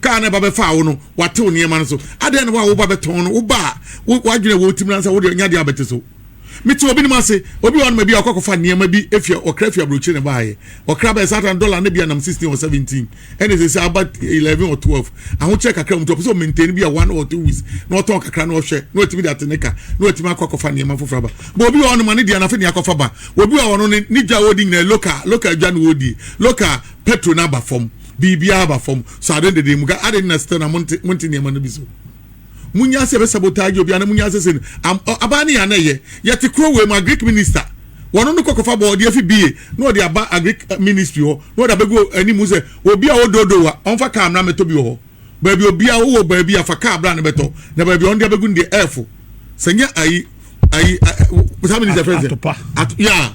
Kaa na ɛba bɛfaa wo no, watew nneɛma no so. Adɛn na wo a wo ba bɛtɔn no, wo ba a w'adwene ɛwɔ wo tirim no ansa wo deɛ nya deɛ a bɛte so? Mete obinom ase, obi wɔ hɔnom a bi a ɔkɔ akɔfa nneɛma bi efi ɔkra fi aburokyire na ɛbaeɛ. Ɔkra bɛyɛ saa tan dɔla no bi a nam sixteen or seventeen ɛna ɛsɛsɛ aba eleven or twelve. Ahokyerɛ kakra wɔ mu nti ɔpɛ sɛ ɔ maintain bi a one or two weeks na ɔtɔn kakra na ɔhwɛ na watumi de ate ne ka na watumi akɔ akɔfa nneɛma foforɔ aba. But obi wɔ hɔnom a ne deɛ no afe ne akɔfa ba. Obi wɔ hɔ ɔno ne dwa a ɔredi nyinaa local local dwa na ɔredie, local petrol no aba fam. biribiara aba fam so ade dede mu ga ade na still na monte monte nneɛma no bi so munya sɛ bɛ sabotage obi ana munya sɛ sɛ abaa ne yana yɛ yɛte kuro wei mu a greek minister wɔn no kɔkɔfa bɔ ɔde afi bie na ɔde aba agric eh, ministry hɔ na ɔde abɛgu anim sɛ obi a ɔdoodo wa ɔnfa kaa mmra mɛtɔ bi wɔ hɔ baabi obi a ɔwɔ baabi afa kaa abra ne bɛtɔ na baabi ɔno de abɛgu ne deɛ ɛɛfo sɛ nyɛ ayi ayi saa minister fɛn sɛ atopa ya.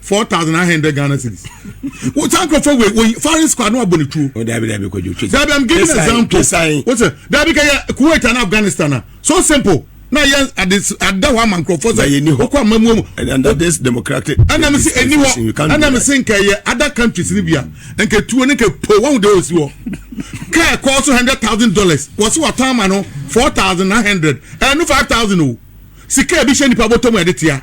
four thousand nine hundred Ghana cedis. Wọ́n sá nkurọ̀fọ́ wẹ̀ wọ́n foreign squad ní wọ́n abọ̀ ní tuo. O dabi dabi kojú twitwi. Dabi I'm giving an example. O sẹ dabi kẹ yẹ Kuwait and Afghanistan na so simple na yẹ adi ada hɔ ama nkurɔfoɔ sɛ ɔkɔ ama mu mu ɛna mi si ɛni hɔ ɛna mi si nka yɛ other countries ni bia nka tuo ne nka po wɔn de osi hɔ kaa kɔɔ so hundred thousand dollars wɔsi wɔ tɔn ma no four thousand nine hundred ɛnu five thousand o sika ebi hyɛ nipa bɔtɔ mu ɛde tia.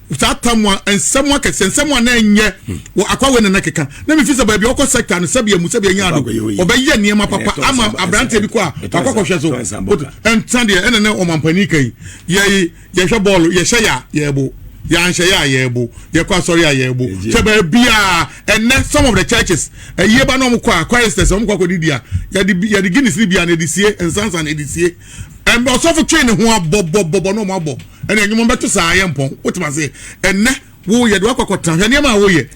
saa tam a nsɛm akɛse nsɛm a na ɛnyɛ wɔ akwa wei na na keka na mefi sɛ baabi ɔkɔ sector no sɛbi amu sɛbi anya no ɔbɛyɛ nneɛma papa ama aberanteɛ bi kɔ a wakɔ kɔhwɛ so ɛnsa deɛ ɛna ne ɔmampanin kan yɛ yɛhwɛ bɔɔlo yɛhyɛ yɛ a yɛbo yɛanhyɛ yɛ a yɛbo yɛkɔ asɔre a yɛbo sɛ baabiaa ɛnɛ some of the churches ɛyie ba na ɔmokɔ a choristers ɔmokɔ akɔdidi a yɛde guinness ne bia na ɛde sie nsansa na ɛde sie ɛnna ɔsɔfo twe ne ho abɔbɔbɔbɔ na ɔmo abɔ ɛnna enyim ɔmo bɛto saa ayɛ mpɔn wotum ase ɛnɛ wo yɛ de wakɔkɔ tena hwɛ nneɛma a woyɛ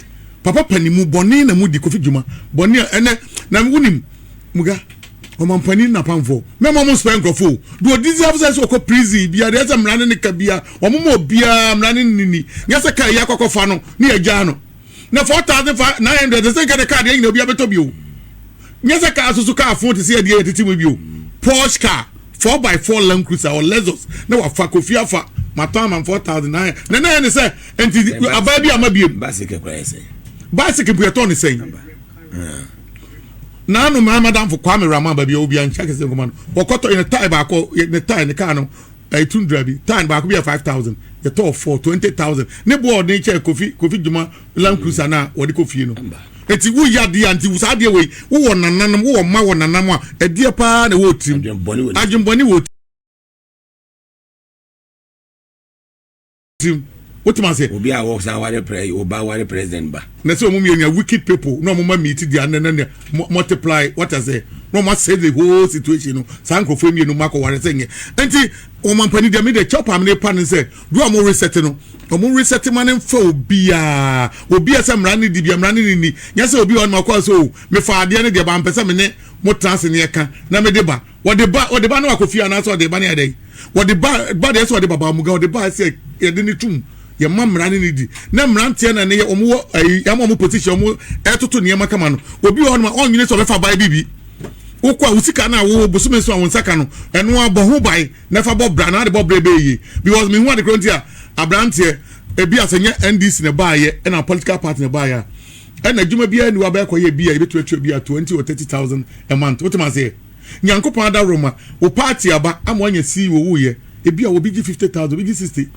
papa panin mu bɔne na mu di kofi dwuma bɔne a ɛnɛ na wonim muga ɔmampanin na pamfo mɛma ɔmo nsopɛ nkurɔfo o do odi zi afo sɛ sɛ ɔkɔ prison bia deɛ sɛ mmara ne ne ka bia ɔmo ma obiara mmara ne ne ni nyɛ sɛ kaa yi akɔkɔfa no ne yɛgyaa no na four thousand five nine hundred ɛsɛ nka de kaa deɛ nyina obi abɛtɔ bio nyɛ sɛ kaa soso kaa fon te sɛ adeɛ yɛtete mu bio porsche car four by four land cruiser or lexus na wafa kofi afa matɔ ama four thousand nine na na yɛ ne sɛ nti abaa bi ama biem bicycle kura yɛ sɛ bicycle bu yɛtɔ ne sɛn naanu mmaa madamfo kwame rama baabi a obi ankyɛ kɛse nkɔma no wɔkɔtɔ yɛ ne tae baako yɛ ne tae ne kaa no ɛyɛ tundra bi tan baako bi yɛ five thousand yɛtɔɔ four twenty thousand ne boɔ a ɔde kyɛ kofi kofi dwuma land cruiser no a wɔde kɔ fie no eti woyɛ adeɛ a nti saa adeɛ wei wowɔ nananom wowɔ mma wɔ nanam a ɛdeɛ paa na ɛwɔ tirim adwembɔne wɔ sim wote ma se. obi a wɔ saa ware prɛ yi oba ware president ba. na sɛ ɔmo mmienu a wicked people na ɔmo ma meet their nana na multiply what I say na ɔmo asɛ the whole situation no saa nkorɔfoɔ mmienu ma kɔ ware sɛ nyɛ nti ɔmo ampani deɛ me deɛ kyɛw paa me ne pa ne sɛ do a ɔmo reset no ɔmo reset ma ne nfa obiaa obiaa sɛ mmara ne di bia mmara ne ne ni nyɛ sɛ obi a ɔno akɔ sɛ o mefa adeɛ ne deɛ ba mpɛ sɛ me ne mo tena ase ne ɛka na me de ba wɔde ba wɔde ba ne wakɔ fie anaasɛ ɔde ba ne ayɛ dɛn wɔde ba ba deɛ sɛ ɔde baba mu ga ɔde ba sɛ yɛde ne tum yɛ mma mmara ne ne di na mmeranteɛ na ne yɛ wɔn wɔ ayi yɛn wɔn position wɔn ɛtoto nneɛma kama no obi wɔ hɔ nom a ɔnyini sɛ ɔbɛfa ban bibi wokɔ a wo sika no a wo bosome nso a wo nsa ka no ɛno abɔ ho ban na fa bɔ bra na ade bɔ brɛ bɛyɛ yie because mehu ade korɔ nti a aberanteɛ ebi asɛ nyɛ ndc na baayɛ ɛna political party na baayɛ a ɛna adwuma biara ni wabɛkɔ yɛ bi a ebi tuatua bi ato nti wɔ thirty thousand a month wotem aseɛ. Nyankopɔn adaworoma, wo party aba ama woanya CEO woyɛ, ebia obi gye fifty thousand, obi gye sixty,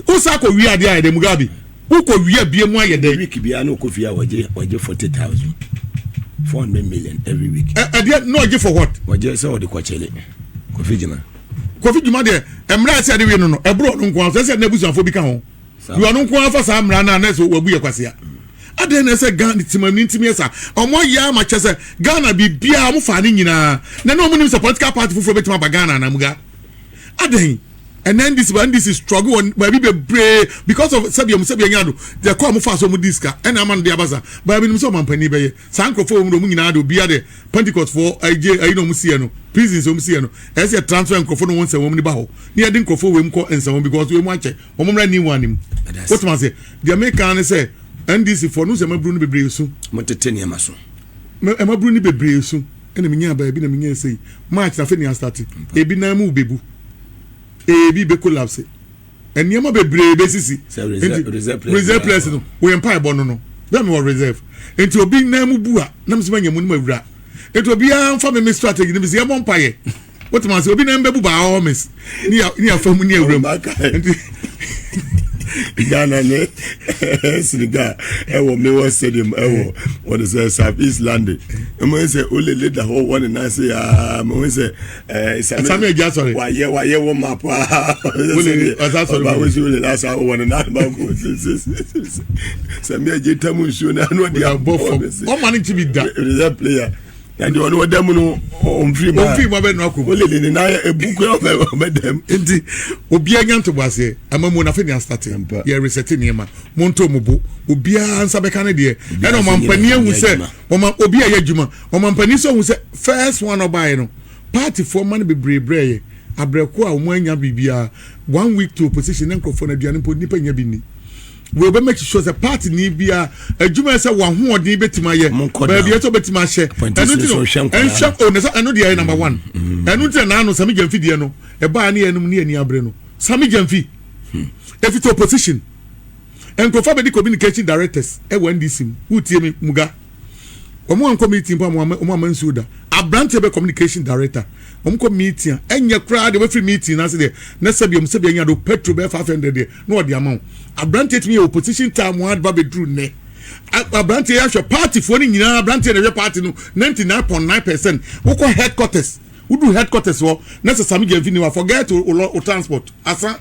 wo san kɔ wia adeɛ ayɛ dɛ, Mugabe, wo kɔ wia bie mu ayɛ dɛ. Every week biara na ɔkɔ fie a ɔgye ɔgye forty thousand, four hundred million every week. Ɛ ɛdeɛ na ɔgye for what? Ɔgye sɛ ɔde kɔkyele Kofi Gyuma. Kofi Gyuma deɛ, mmerɛ a ɛsɛ yɛde we no no, ɛboro ɔno nko ara so, ɛsɛ yɛde n'abusuafoɔ bi ka ho. yɛ ɔno nko ara fa saa mmara no a na ɛsɛ wabu yɛ kwasea adɛn na ɛsɛ ghana timanni ntumi yɛ saa ɔmo ayɛ ama kyɛ sɛ ghana biribiara ɔmo faa ne nyinaa na na ɔmo nim sɛ political party foforɔ bɛtumi aba ghana anamuga adɛn ɛnɛ ndc ba ndc struggle wɔ baabi bebree because of sɛbi ɔmo sɛbi ɛnya do deɛ kɔ ɔmo fa so ɔmo di sika ɛna ama no de aba sa baabi nim sɛ ɔmampanin bɛyɛ saa nkorɔfoɔ wɔn mu ɔmo nyinaa de obiara de pentecost foɔ ɛgye ɛyi na ɔmo si yɛ no prisons ɔmo si yɛ no ɛsɛ yɛ transfer nkorɔfoɔ no wɔn nsɛm wɔn ni ba hɔ ne yɛ de nkorɔfoɔ wɔ mu kɔ nsɛm wɔn because wɔn mu akyɛ wɔn mmra new one mu wotoma ase deɛ mi kan ne sɛ ndc fo no sɛ ɛmaburu no bebree so. mo tete nneɛma so. ɛmaburu no bebree so ɛna mi nya baabi na mi nya ɛsɛ yi march na afei ni asate ebi nan mu bebu ebi be collapse nneɛma bebree besisi nti reserve place no wɔyɛ mpa ɛbɔ no no bɛn mi wɔ reserve nti obi nan mu bu a nam sɛ ma nya mu no ma wura nti obiara nfa mi mi strategy no bi si ɛbɔ mpa yɛ. wote ma sɛ obi nan bɛbu baa hɔ mes ne ya ne yafa mu ne awura mu nti ghana ne senegal ɛwɔ mewɔ stadium ɛwɔ wɔde sɛ south east london ɛmu sɛ olele da hɔ wɔne nan se aa mehu sɛ ɛsame agya sɔre wayɛ wayɛ wɔ ma paa olele ɔsa sɔre ɔba wosi olele asa wɔne nan ba ko sɛme agye tam nsuo na ano ɔde abɔ fam ɔma ne nkyi bi da ɛdɛ player na deɛ ɔne ɔda mu no ɔmfiri mu ɔmfiri mu abɛnu akɔ mu ɔlele ne nan ebu kura ɔbɛ ɔbɛda mu nti obiara nya ntobo aseɛ ama mu nafe ne asate yɛ resɛte nneɛma mo nto mo bo obiara nsa bɛka ne deɛ ɛna ɔma mpanin ehu sɛ ɔma obi a yɛ adwuma ɔma mpanin sɛ ehu sɛ first one ɔbaeɛ no party foɔ ma no bebree brɛ yɛ abrɛko a wɔn anya biribiara one week to opposition ne nkurɔfoɔ no aduane mpo nipa nya bi ni. Wei bɛ make sure sɛ party ni biara adwuma yɛ sɛ wahoɔden bɛtumi ayɛ baabi yɛ sɛ ɔbɛtumi ahyɛ ɛno nti no ɛnhwɛ o na sɛ ɛno deɛ yɛ number one mm-hmm. ɛno nti na naano sami gyamfi deɛ no ɛbaa ne yɛnom ne yɛni abere no sami gyamfi hmm. efi to opposition nkurɔfoɔ bɛdi communication directors ɛwɔ ndc mu wotie mi muga. wɔn ankɔ meeting mpo ama wɔn ama nsuo da aberanteɛ bɛ communication director wɔn kɔ meeting a ɛnyɛ koraa deɛ wɔfiri meeting n'ase deɛ na sɛbi wɔn sɛbi anya do petrol bɛyɛ five hundred deɛ na wɔde ama wɔn aberanteɛ tumi yɛ opposition time wɔn adeba bɛduru nnɛ aberanteɛ yɛahwɛ party foɔ no nyinaa aberanteɛ na ɛhwɛ party no ninety nine point nine percent wokɔ headquarters woduru headquarters hɔ na sɛ sami gyɛnfi ni wa forget o transport asa.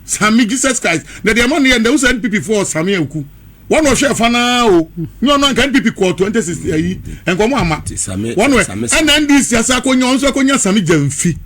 sami jesus christ na deɛ ɛma no yɛ ndɛ wosɛ npp foɔ ɔsami aku wɔn na ɔhwɛ ɛfa naa o nyɛ ɔno anka npp kɔɔ twenty six ayi nka wɔn ama wɔn wɛ ɛna ndc asa akonya wɔn nso akonya sami gyɛnfi.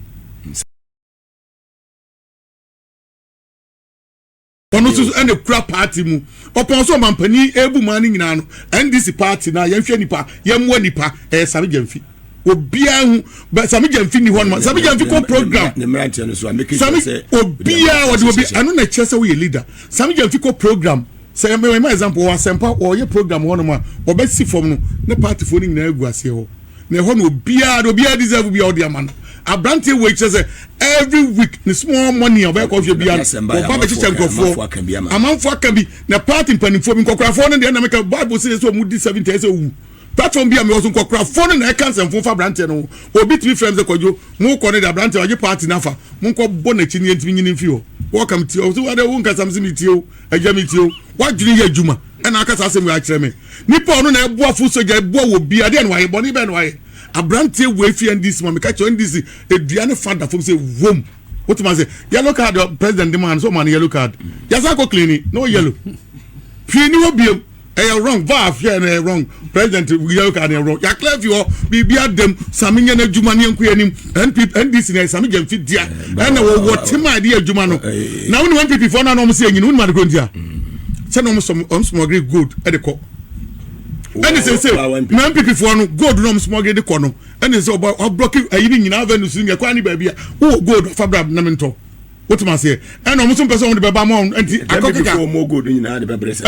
ɔno nso ɛna kura paati mu ɔpɔn so ɔmampanin ebu maa ne nyinaa no ndc paati na yɛnhwɛ nipa yɛmmoa nipa ɛyɛ sami gyɛnfi. obiara hu bɛ sami gyɛnfi ni hɔ nom sami gyɛnfi kɔ program ne mmeranteɛ no so a meke sami obiara wɔde obi ɛno na ɛkyerɛ sɛ woyɛ leader sami gyɛnfi kɔ program sɛ ɛmɛ ɛmɛ example wɔ asɛmpa wɔyɛ program hɔ nom a wɔbɛsi fam no ne partyfoɔ no nyinaa gu aseɛ hɔ na ɛhɔ no obiara de obiara deserve bi a ɔde ama no aberanteɛ wɔ ekyirɛ sɛ every week ne small money a ɔbɛyɛ kɔhwɛ biara ɔba bɛkyekyɛ nkurɔfoɔ amanfoɔ aka bi na party mpanimfoɔ bi nkɔkorafoɔ no deɛ ɛna meka bible sɛ yɛ sɛ ɔmo di seventy ɛsɛ owu Platform bi a mewɔ so nkwakorafoɔ no na ɛka nsɛmfo fa aberanteɛ no ho. Obi tumi frɛ me sɛ Kwadwo, mokɔ no de aberanteɛ wagye party no afa, monkɔ bɔ n'akyi no yɛntumi nyini mfi hɔ. Wɔka me tie, ɔse wo adɛn wonkasa mese metie wo agya metie wo. W'adwene yɛ adwuma ɛna aka saa asɛm wei akyerɛ me. Nipa a ɔno na ɛboa foot soldier ɛboa wɔ biaa deɛ na wayɛ, bɔne bɛn na wayɛ. Aberanteɛ wei fi NDC ma meka kyerɛ NDC ɛdua ne fa da fam sɛ wom. Wotumi ase yellow card president de maa no sɛ ɔmaa no yellow card. Yɛsan kɔ clean no yellow. Hwee ni hɔ biom. ɛyɛ wrong vaaf yɛ no ɛyɛ wrong president yɛyɛ ka no ɛyɛ wrong yɛakla afi hɔ biribi adam same nyɛ no adwuma ne ɛnkɔ anim ndc na same gya mfi dea ɛna wɔwɔ tema a ɛde yɛ adwuma no na wone npp foɔ no ana ɔm sɛ ɛnyini wonim adekɔ ntia sɛ na ɔm smɔgre gold ɛde kɔ ɛne sɛ sɛ na npp foɔ no gold na ɔm smɔgre de kɔ no ɛne sɛ ɔbrɔke ayi ne nyinaa avenues no nyɛ kwan ne baabi a wowɔ gold afa bra nam ntɔ wotum aseɛ ɛna ɔmo nso mpɛ sɛ ɔmo de bɛba ama ɔmo nti akɔ keka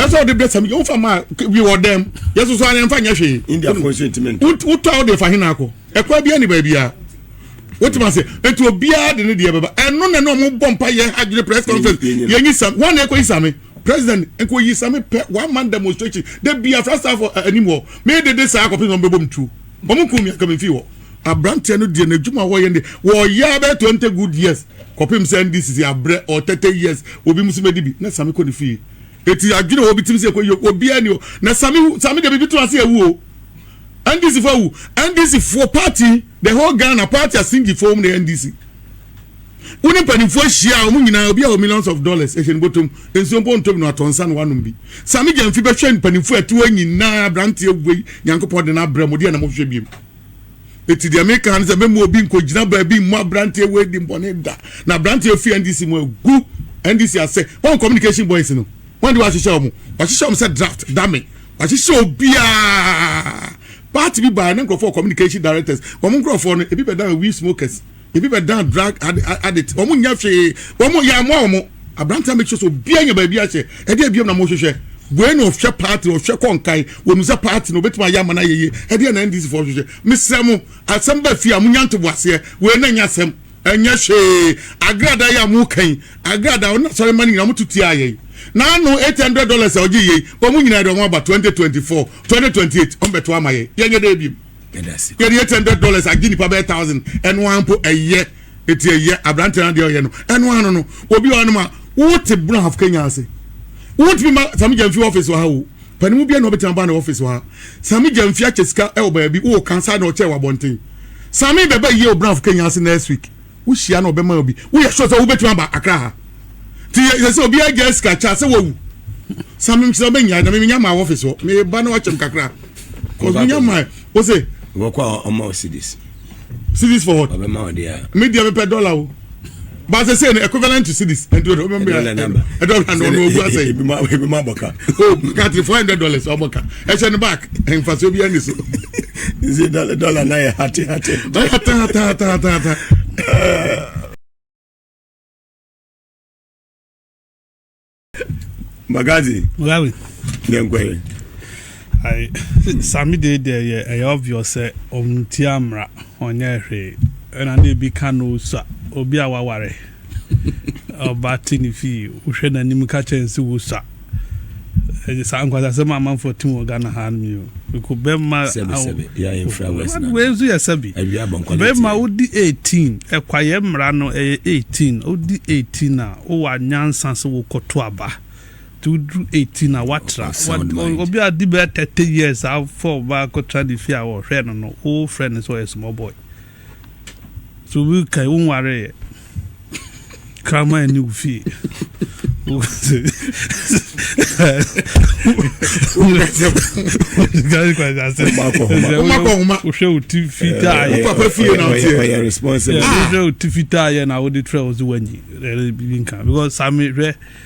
ɛsɛ ɔde brɛ sami wofa ma bi wɔ dɛm yɛsoso ara yɛmfa nyɛ hwee wotɔ a wode fa hena akɔ ɛkɔ bia ne baabia wotum aseɛ nti obiara de ne deɛ bɛba ɛno na ne ɔmo bɔ mpa yɛ adwene press conference yɛnyi sam wɔn na ɛkɔ yi sami president nkɔ yi sami pɛ one man demonstration de bi afra saafo anim hɔ mee dede saa akɔpɛ na ɔmo bɛbɔ mu tuo ɔmo kun mi akamifi hɔ aberanteɛ no deɛ n'adwuma wɔyɛ ne wɔyɛ abɛɛ twenty good years kɔpem sɛ ɛnde sisi abrɛ or thirty years obi mo so bɛdi bi na same kɔ ne fie eti adwene obi tim sɛ kɔyi obi ani o na same hu same deɛ bibi to ase awu o NDC fo awu NDC fo party the whole Ghana party asingi fo wɔn na NDC wo ne mpanimfoɔ ahyia a wɔn nyinaa obi a wɔ millions of dollars ɛhyɛ ne bɔtɔm nsuo mpo ntom no atɔ nsa na wanom bi same gyamfi bɛhwɛ mpanimfoɔ ɛtoɔ nyinaa aberanteɛ wei nyankopɔn de no abrɛ mo deɛ na mohwehwɛ biem Eti deɛ meka ne sɛ mɛma obi nkɔgyina baabi mmɔ aberanteɛ wei di mbɔne da. Na aberanteɛ fi NDC mu agu NDC asɛ. Wɔn communication boys no, wɔn de wɔahyehyɛ wɔn. Wɔahyehyɛ wɔn sɛ draft, dame. Wɔahyehyɛ obiara. Party bi baeɛ ne nkurɔfoɔ communication directors. Wɔn nkurɔfoɔ no, ebi bɛdan we smokers. Ebi bɛdan drug addict. Wɔn nyɛ hwee. Wɔn yɛ amoa wɔn. Aberante a make sure sɛ obiara nya baabi ahyɛ. Ɛdeɛ biom na mohwehwɛ. Wei na ɔhwɛ party, ɔhwɛ kɔnkae. Wɔn sɛ party na obetumi ayɛ ama no ayɛ yie. Ɛdeɛ na NDC foɔ hwehwɛ. Mesrɛ mo, asɛm ba fie a monya ntoboaseɛ. Wei na nyɛ asɛm. Ɛnyɛ hwee. Agradaa yi a moka yi, agradaa a ɔne asɔremma no nyinaa wɔto tiaa yɛn. N'ano eight hundred dollars a ɔgye yei, wɔn nyinaa de wɔn aba twenty twenty four, twenty twenty eight wɔn bɛto ama yɛn. Yɛnyɛ dɛn biom. yɛde eight hundred dollars agye nipa bɛyɛ thousand ɛno ara mpo ɛyɛ eti ɛyɛ aberante na deɛ ɔyɛ no ɛno ara no no obi wɔ anoma wote buna half kenya ase wotumi ma sami gyamfi ɔfisi wɔ ha o panimu bia na ɔbɛtumi aba na ɔfisi wɔ ha sami gyamfi akyɛ sika ɛwɔ baabi wɔ kansa na ɔkyɛ wɔ abɔnten sami bɛbɛ yie o buna half kenya ase next week. Wohyia na ɔbɛma obi. Woyɛ sure sɛ wobɛtumi aba Accra ha? Nti yɛ sɛ obiara gyaa sika kyɛ sɛ wawu. Sa me nkyerɛ mɛnya na menya ma wɔ office hɔ. Meba na wakyɛm kakra. Cause menya ma wo se. Wɔkɔ a ɔma wo cities. Cities for what? Ɔbɛma wo deɛ. Me deɛ mepɛ dollar o. But I say equivalent to cities. And do remember a dollar no no go say. Ebi ma ebi ma boka. Oh, got 400 dollars or boka. Ɛhyɛ ne back. Ɛnfa so bi ani so. Nse dɔla dɔla na yɛ hate hate. Na yɛ hate hate hate hate hate. Magazi. Rawi. Yɛ nkɔ yɛ. Ayi sami de deɛ yɛ ɛyɛ obvious sɛ ɔnti amra ɔnyɛ hwee ɛna na ebi ka no sa obi a waware. Ɔba te ne fie, wohwɛ n'anim ka kyerɛ no sɛ wosua. Ɛyɛ saa nkwasasɛm a amanfoɔ te wɔ Ghana ha no mi o. Mekɔ bɛrima wei nso yɛ sɛbi. Bɛrima wodi 18, ɛkwayɛ mmara no ɛyɛ 18. Wodi 18 a, wowɔ anyansa sɛ wokɔto aba. Nti woduru 18 a, watra. Obi a di bɛyɛ 30 years a, wofɔ ɔba akɔtra ne fie a wɔhwɛ no no, wofrɛ no sɛ ɔyɛ small boy. So obi kae wo nwareeɛ kraman ani wo fie wohwɛ wo ti fitaayɛwohwɛ wo ti fitaayɛ na wode trɛ wo so wanyi biribi nka because same hwɛ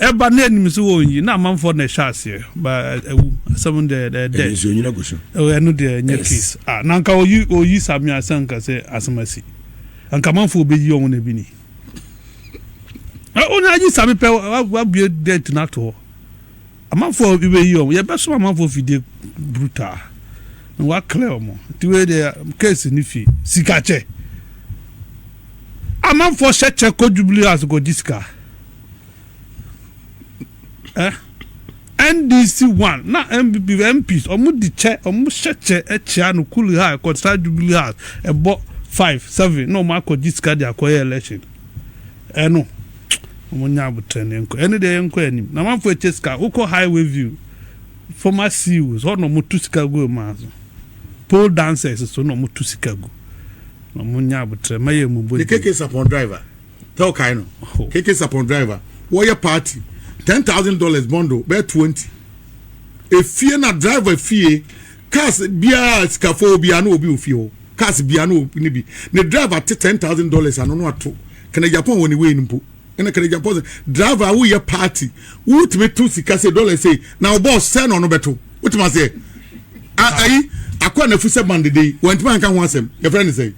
Ɛba na ɛnim so wɔn yi na amanfoɔ na ɛhyɛ aseɛ ba ɛwu asɛm no deɛ ɛdɛ. Ɛyɛ nsuo nyina gu so. Ɛno deɛ ɛnyɛ case ah na nka oyi oyi sami asɛ nka sɛ asɛm asi nka amanfoɔ bɛyi wɔn na ebi ni. Ɔno ayi sami pɛ wabue date no ato hɔ amanfoɔ bi bɛyi wɔn yɛbɛsom amanfoɔ fidie brutal na waklɛ wɔn nti wei deɛ case no fi sika kyɛ amanfoɔ hyɛ kyɛ kɔ jubilee house kɔ gye sika. eh, NDC one na NPP MPs wɔn di kyɛ wɔn hyɛ kyɛ ɛkyia no kuli ha ɛkɔtra jubilee house ɛbɔ five seven na wɔn akɔ gyi sika de akɔyɛ election ɛno wɔn nya abotire ne nkɔ ɛne deɛ yɛnkɔ anim na manfo ɛkyɛ sika wokɔ highway view former CEOs hɔ na wɔn tu sika gu wɔn aso pole dancers so na wɔn tu sika gu na wɔn nya abotire mɛyɛ mu bɔ ne keke sapɔn driver. sɛ ɔkae no oh. keke sapon driver wɔyɛ party ten thousand dollars bundle bɛyɛ twenty efie na driver fie cars biara sikafo obiara na obi ofie hɔ cars biara na obi ne bi ne driver te ten thousand dollars ano no ato kene japan wɔ ne wei no mpo ɛna kene japan sɛ driver a woyɛ party wotumi to sika sɛ dollar sɛ na ɔbɔ ɔsɛ na ɔno bɛto wotumi aseɛ ayi akɔ na fi sɛ bandede wɔntumi anka ho asɛm yɛfrɛ ne sɛ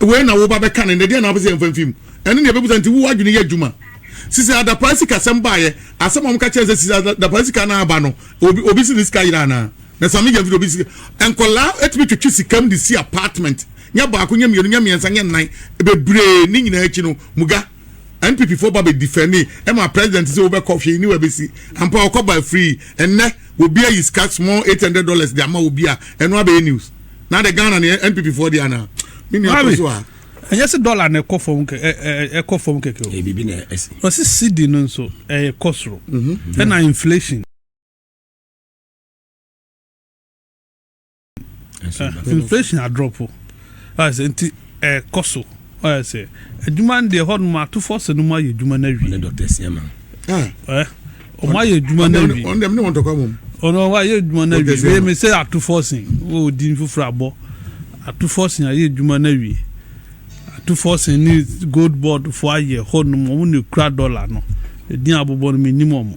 wei na woba bɛka no nnɛ deɛ na wopɛ sɛ yɛmfa mfi mu ɛno ne yɛbɛbusa nti wo adwene yɛ adwuma sisi adapaa sika sɛm baayɛ asɛm a wɔka kyerɛ sɛ sisi adapaa sika no aba no obi obi si ne sika yera anaa na sami yɛ mfiri obi sika nkɔlaa ɛtumi twetwe sikam de si apartment nyɛ baako nyɛ mmienu nyɛ mmiɛnsa nyɛ nnan bebree ne nyinaa akyi no muga npp fo ba bɛ difɛni ɛma president sɛ wobɛkɔ hwee ne wabɛsi ampa ɔkɔ ba free ɛnnɛ obi ayi sika small eight hundred dollars de ama obi a ɛno abɛyɛ news na de ghana ne npp foɔ deɛ anaa me nua kɔ so a ɛnyɛ sɛ dɔla na ɛkɔ fam ɛkɔ fam kɛkɛ o biribi na ɛsi ɔsi cd no nso ɛyɛ kɔ soro ɛna inflation inflation adrɔpo nti ɛkɔ so Ɔyɛ sɛ adwuma no deɛ ɛhɔ nom ato fɔ sɛ no mu ayɛ adwuma no awie. Ɔne dɔkta sia ma. Ɛ ɔmo ayɛ adwuma no awie. Ɔno dɛm ne wɔn tɔkwa mom. Ɔno ɔmo ayɛ adwuma no awie. Wei mi sɛ ato fɔ sen wɔ odin foforɔ abɔ. Ato fɔ sen ayɛ adwuma no awie. Ato fɔ sen ne gold board fo ayɛ hɔ nom ɔmo na ekura dɔla no. Edin abobɔ no mi nim ɔmo.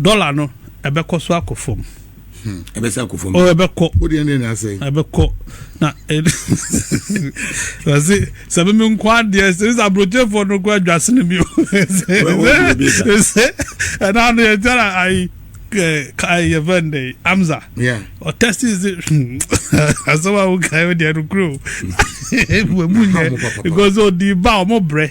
Dollar no ɛbɛkɔ so akɔ fam. Hmm, ɛbɛsɛ akɔ fam. Oh, ɛbɛkɔ. O deɛ ne na asɛn. Ɛbɛkɔ na ɛsɛ sɛ mímí nkɔ adeɛ sɛ sɛ aburokyefoɔ no kɔ adwa sini bi o. Ɛsɛ ɛna ano yɛ gyara ayi yɛ fɛn de amza. Ɔtɛsi sɛ asɛm a wokae o deɛ no kuro. Emu nyɛ because odi ba ɔmo brɛ.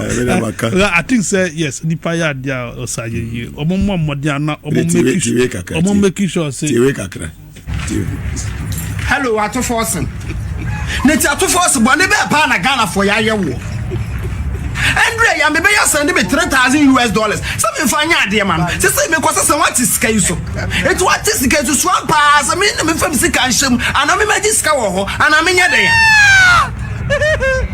I think sɛ yes nipa yɛ adi a ɔsa yɛ yie ɔmo mmɔ mmɔden ana ɔmo make sure ɔmo make sure sɛ. tiwe kakra tiwe. hello atofo ɔsen ne ti atofo ɔsen bɔ ne bɛɛ paa na ghana fo yɛ ayɛ wɔ ɛndrɛ yɛ mebe yɛ sɛn de me three thousand us dollars sɛ me nfa nyɛ adeɛ ma no sɛ sɛ me kɔ sɛ sɛ wate sika yi so etu wate sika yi so sua paa sɛ me na me fam sika nhyɛ mu ana me ma gye sika wɔ hɔ ana me nyɛ dɛ.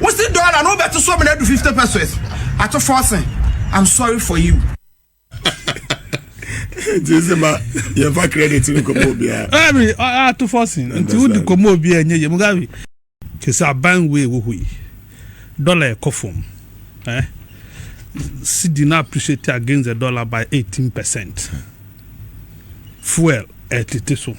Wo se dollar no wobɛto so mene adu 50 pesos ato forcing I'm sorry for you. nti sɛ ma yɛmfa credit no kɔmɔ obiara ɛbi ato fɔsen nti wode kɔmɔ obiara nyɛ yɛmu gabi kyɛ sɛ aban wei wɔ hɔ yi dɔla ɛkɔ fam eh? sidi no appreciate against the dollar by 18 percent Fuel ɛtete so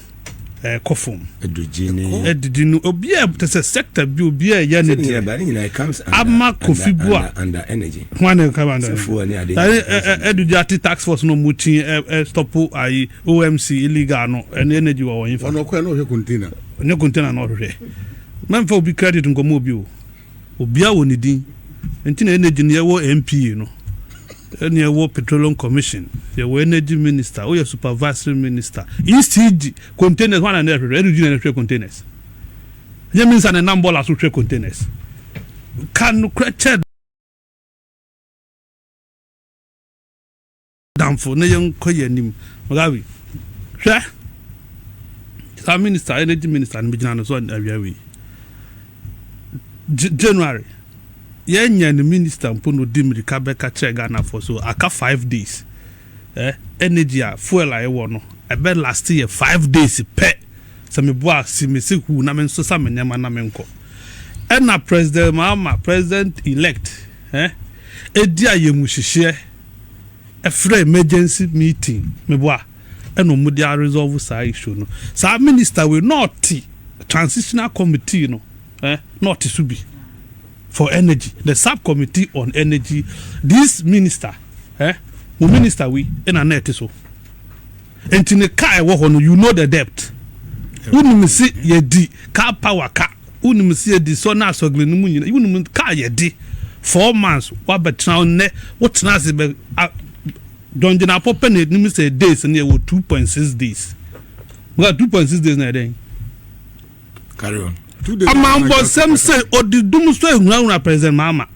ɛkɔ fam. Adwogye ne. Adidi no obi a te sɛ sector bi obi a ɛyɛ ne deɛ. Ama Kofi Bua. Under energy. Ho ana ɛka ba under. Fuel ne ade. Adidi ate tax force no mo kyi ɛ stop ayi OMC illegal no ɛne energy wɔ wɔn fa. Wɔn ɔkɔ ɛna ɔhwɛ container. Ɔnyɛ container na ɔhwehwɛ. Mɛnfa obi credit nkɔmɔ obi o. Obia wɔ ne din nti na energy no yɛwɔ NPA no ɛne yɛwɔ petroleum commission yɛwɔ energy minister woyɛ supervisory minister ECG containers wana na ɛhwehwɛ energy na ɛhwehwɛ containers nyɛ minister na ɛnam bɔla so hwɛ containers ka no kora kyɛ Damfo na yɛnkɔ yɛn anim. Malawi, hwɛ saa minister, energy minister no bɛgyina no so awia wei. January, yɛnyɛ no minister mpo na ɔdi mmirika bɛka kyerɛ Ghanafoɔ so aka five days. Eh, energy a fuel a yɛwɔ no, ɛbɛ last yɛ five days pɛ. Sɛ meboa si me se huu na me nso sa me nneɛma na menkɔ. Ɛna President Mahama, President elect, eh, ɛdi ayɛ mu hyehyeɛ. ɛfrɛ emergency meeting meboa ɛna ɔmo de aresɔlvo saa issue no saa minister wei na ɔte transitional committee no eh na ɔte so bi for energy the sub committee on energy this minister eh mo minister wei ɛna na ɛte so. Nti ne ka a ɛwɔ hɔ no you know the depth wonim se yɛdi car power ka wonim se yɛdi sɔ ne asɔgle no mu nyina wonim ka a yɛde four months woabɛtena hɔ nnɛ wotena ase bɛ a dɔngyinapɔ pɛ na ɛnim sɛ days no yɛwɔ two point six days nga two point six days na ɛdɛn Carry on. ɔmanbɔnsɛm sɛ ɔde dum so ahunahuna president maama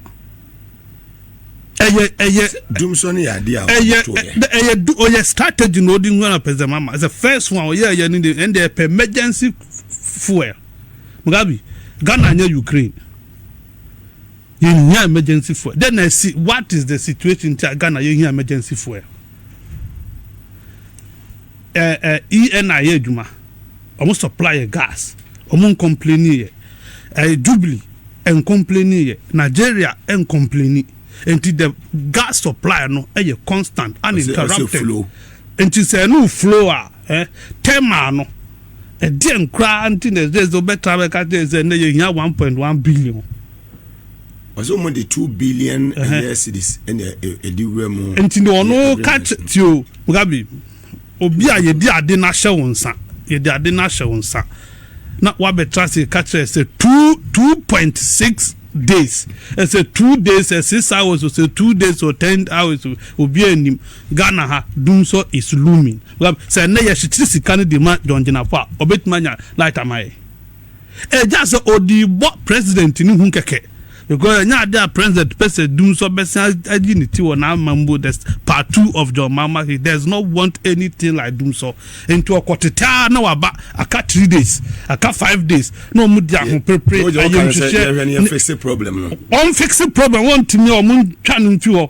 ɛyɛ ɛyɛ dum so no yɛ adeɛ a ɛyɛ ɛyɛ ɔyɛ strategy na ɔde hunahuna president maama ɛsɛ first one ɔyɛ ɛyɛ ne de ɛnde ɛpɛ emergency fuel mugabe ghana nyɛ ukraine yɛhia emergency fuel then i see what is the situation ti a ghana yɛhia emergency fuel. Ɛɛ ENA yɛ adwuma ɔmo supply yɛ gas ɔmo ncomplaini yɛ ɛɛ jubilee ɛncomplaini yɛ Nigeria ɛncomplaini nti the gas supply no ɛyɛ constant uninterrupted nti sɛ ɛno flow a ɛɛ thermal no ɛdeɛn koraa nti na ɛsɛ sɛ ɔbɛtra bɛka kyerɛ sɛ nnɛ yɛ hia one point one billion ɔsɛ wɔn de two billion ɛyɛ cedis ɛna ɛde wura mu. nti na ɔno ka ti o mugabe obi a yɛde ade no ahyɛ wo nsa yɛde ade no ahyɛ wo nsa na wabɛtra se ka kyerɛ sɛ two two point six days ɛsɛ two days ɛ six hours o sɛ two days o ten hours o obi anim ghana ha dum sɔ is looming sɛ ɛnɛ yɛhyekyere sika no de ma dɔngyinafo a ɔbɛtumi anya light ama yɛ. Ɛgyaa sɛ ɔdii bɔ president no hu kɛkɛ because ɛnyɛ adeɛ a president pɛ sɛ dum sɔ bɛsan ayi ne ti wɔ n'amammuo the part two of John Mahama he does not want anything like dum sɔ nti ɔkɔ tete ara na waba aka three days aka five days na ɔmo di ahoperepere Wogye ayɛ ɔka no sɛ nhwehwɛ yɛhwɛ ne yɛfixe problem no. wɔn fixe problem wɔn ntumi wɔn ntwa no mfi hɔ.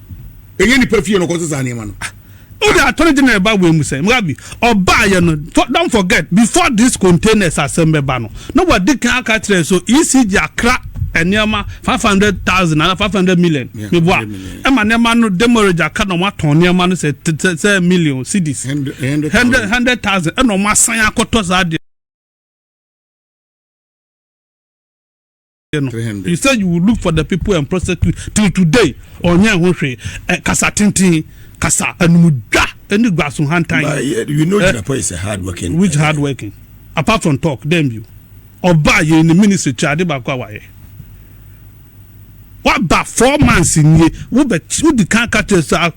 ɛnyɛ nipa fie na ɔkɔ sesa nneɛma no. Ah, o de attorney general ba wei mu sɛ mwabi ɔbaa yɛ no don't forget before this containers asɛm bɛba no na wadi kan aka kyerɛ so ECG akra nneɛma five hundred thousand ana five hundred million meboa ɛma nneɛma no demorage aka na wɔn atɔn nneɛma no sɛ sɛ million cedis hundred hundred thousand ɛna wɔn asan akɔtɔ saa deɛ. yɛ no you say you will look for the people and prosecute till today ɔnyɛ ho hwee eh, kasa tenten kasa anumudwa ɛne guaso hantan But yeah, you know, eh, Jinapo is a hard working. which hard working apart from talk dem bi ɔba yɛ ne ministry kyɛ ade baako a wayɛ waba four months nie wobɛ wodi kan ka kyerɛ sɛ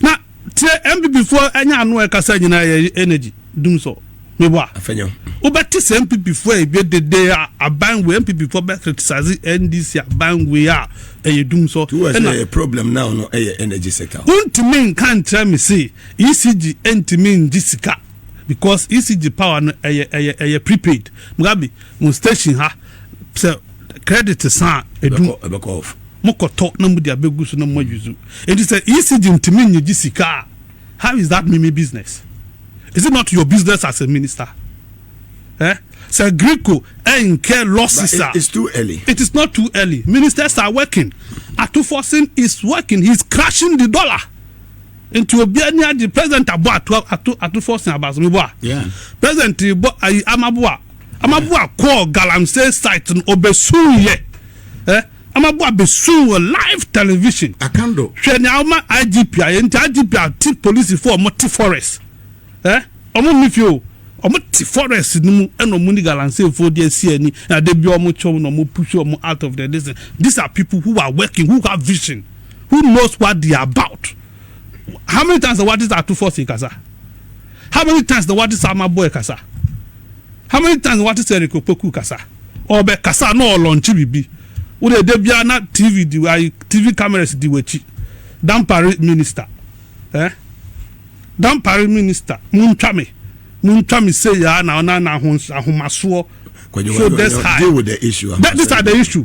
Na tie NPP foɔ ɛnyɛ ano a ɛkasa nyinaa yɛ energy dum sɔ me bɔ a wobɛte sɛ NPP foɔ a ɛbɛ dede a aban wei NPP foɔ bɛ criticize NDC aban wei a ɛyɛ dum sɔ ɛna yɛ problem now no ɛyɛ energy sector wontumi nka nkyerɛ me se ECG ntumi ngye sika because ECG power no ɛyɛ ɛyɛ ɛyɛ prepaid Mugabe mo station ha sɛ credit sa a edu ɛbɛkɔ off mokɔtɔ na mode abɛgu so na mo ayuzu enti sɛ ECG ntumi nye gye sika a how is that mimi business is it not your business as a minister eh sɛ Greco ɛnkɛ losses a it's too early it is not too early ministers are working Atufosin is working he is crushing the dollar nti obiara ni agye president abɔ ato ato Atufosin abasomi bɔ a president bɔ ayi amabo a. Amaboa kɔɔ Galamsey site no, ɔbɛsuiɛ. Ɛ! Amaboa bɛsui wɔ live television. Akando. Hwɛ nea woma IGP ayɛ nti, IGP ate polisifoɔ a wɔte forest. Ɛ! Wɔn nni fie o, wɔte forest no mu ɛna wɔne Galanseyfoɔ de asi ani, na da biara wɔkyɛ wɔn na wɔpush wɔn out of the this thing. These are people who are working, who have vision, who knows what they are about. How many times na wɔde ato force rekasa? How many times na w'ate Salma boy kasa? How many times na w'ate sɛ Eric Opoku kasa? Ɔbɛ kasa na ɔlɔnkye bibi. Wo de ɛdɛ bia na TV di ayi TV cameras di w'akyi. Dampare minister. Eh? Dampare minister. Muntwa me. Muntwa me se ya na na na ahomasoɔ. So this high. Deal with the issue. This are the issue.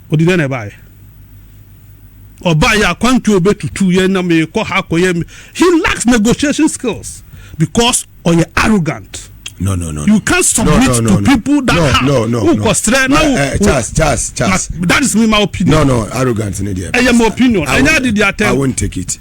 Ɔde dɛn na ɛbaeɛ? Ɔbaeɛ a kwantuo ɔbɛtutu yɛn na merekɔ ha akɔyɛ me He lacks negotiation skills because ɔyɛ arrogant. No, no, no. You can't submit no, no, no, to people that no, have. No, no, no. Ukɔ srɛ na wo. Eh, Charles, Charles, Charles. That is me my opinion. No, no, arrogant ne deɛ. Ɛyɛ my opinion. Ɛnyɛ adi di atɛm. I won't take it.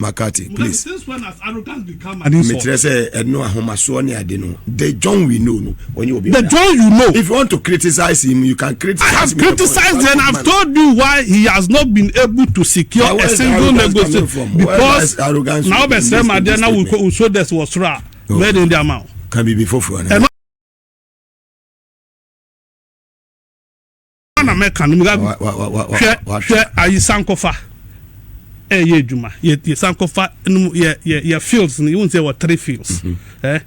McCarthy, please. Mekyerɛ sɛ ɛno ahomasoɔ ne ade no. The John we know no. Ɔnyɛ obi. The John you know. If you want to criticize him, you can criticize. I have criticized and I've told you why he has not been able to secure a single negotiation because na ɔbɛ sɛ ma deɛ na wò so dɛs wɔ soro a mɛ de n di ama o. Kan bibi foforɔ na. ana mɛka no mugagu hwɛ hwɛ ayi sankɔfa ɛyɛ adwuma yɛ sankɔfa no yɛ yɛ yɛ fields no yɛwɔ sɛ yɛwɔ three fields mhm. ɛ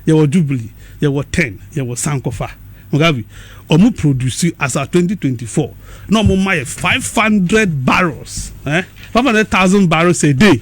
yɛwɔ jubilee yɛwɔ ten yɛwɔ sankɔfa mugagu wɔn produce as at twenty twenty four na wɔn ma yɛ five hundred barrels ɛ five hundred thousand barrels a day.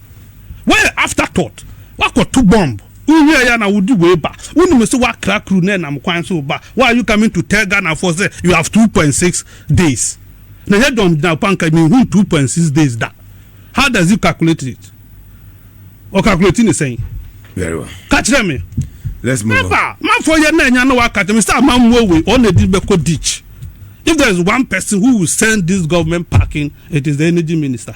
Woayɛ after thought, woakɔto bomb, wohwɛɛ yɛ a na wode wei ba. Wonim sɛ woakra kuru na ɛnam kwan so reba. Why are you coming to tell Ghanafoɔ sɛ you have two point six days? Na ɛnyɛ John Nyarko anka menhuu two point six days da. How does he calculate it? Ɔ calculate ne sɛn? Very well. Ka kyerɛ me. Let's move Never. on. Manfoɔ yɛ na ɛnya na waka kyerɛ me sɛ ama mmoa wei ɔna ɛdi bɛkɔ ditch. If there is one person who will send this government packing, it is the energy minister.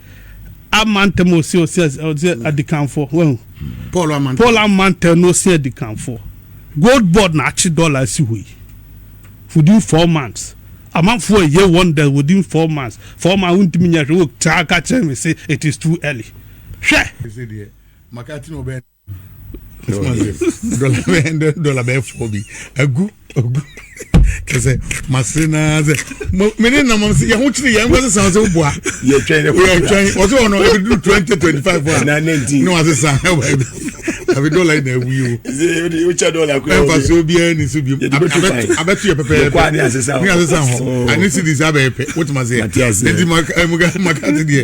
ama ntɛm ɔsi ɔsi ɔsi mm. adikanfoɔ wɔn paul ama ntɛm paul ama ntɛm na ɔsi adikanfoɔ gold board na akyi dɔla si hɔ yi within four months amanfoɔ ɛyɛ wɔn dɛ within four months four months wontumi nyɛ hwɛ wɔ taa ka kyerɛ mi sɛ it is too early hwɛ. dɔla bɛyɛ fɔ bi agu agu kɛsɛ masere naa sɛ me ne nam sɛ yɛho kyere yɛn nkɔ sesa sɛ woboa yɛtwɛn ɔsɛ ɔno ɛbɛduru 2025 a na wasesa abi dɔla yi na awu yi o ɛmfa so obiara ni so biom abɛto yɛ pɛpɛɛpɛ ne asesa hɔ ane cedis abɛyɛ pɛ wotuma sɛ ɛnti makate deɛ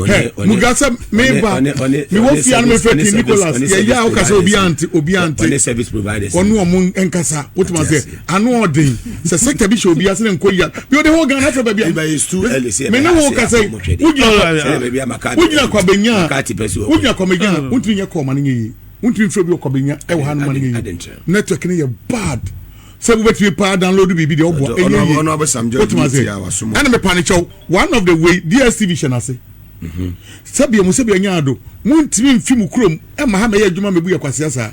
hɛ muga sɛ meba mewɔ fie ano mefrɛ king nicholas yɛyɛ a woka sɛ obi ante obi ante ɔne ɔmo nkasa wotuma sɛ ano ɔden sɛ sɛkta bi hyɛ obi ase ne nkɔ yia bi ɔde hɔ ghana afrɛ baabi a me ne wo ka sɛ wogyina kwabɛnya wogyina kwabɛnya mm. wontumi nyɛ kɔɔma no nyɛ yie wontumi mfrɛ bi ɔkwabɛnya ɛwɔ ha no ma no nyɛ yie network no yɛ bad sɛ wobɛtumi paa download biribi deɛ ɔboa ɛnyɛ yie wotumi ase ɛna mepa ne kyɛw one of the way dstv hyɛ no ase mhm. sɛbia mu sɛbia nyaa do montumi mfi mu kurom ɛma ha mɛyɛ adwuma mɛbu yɛ kwasea saa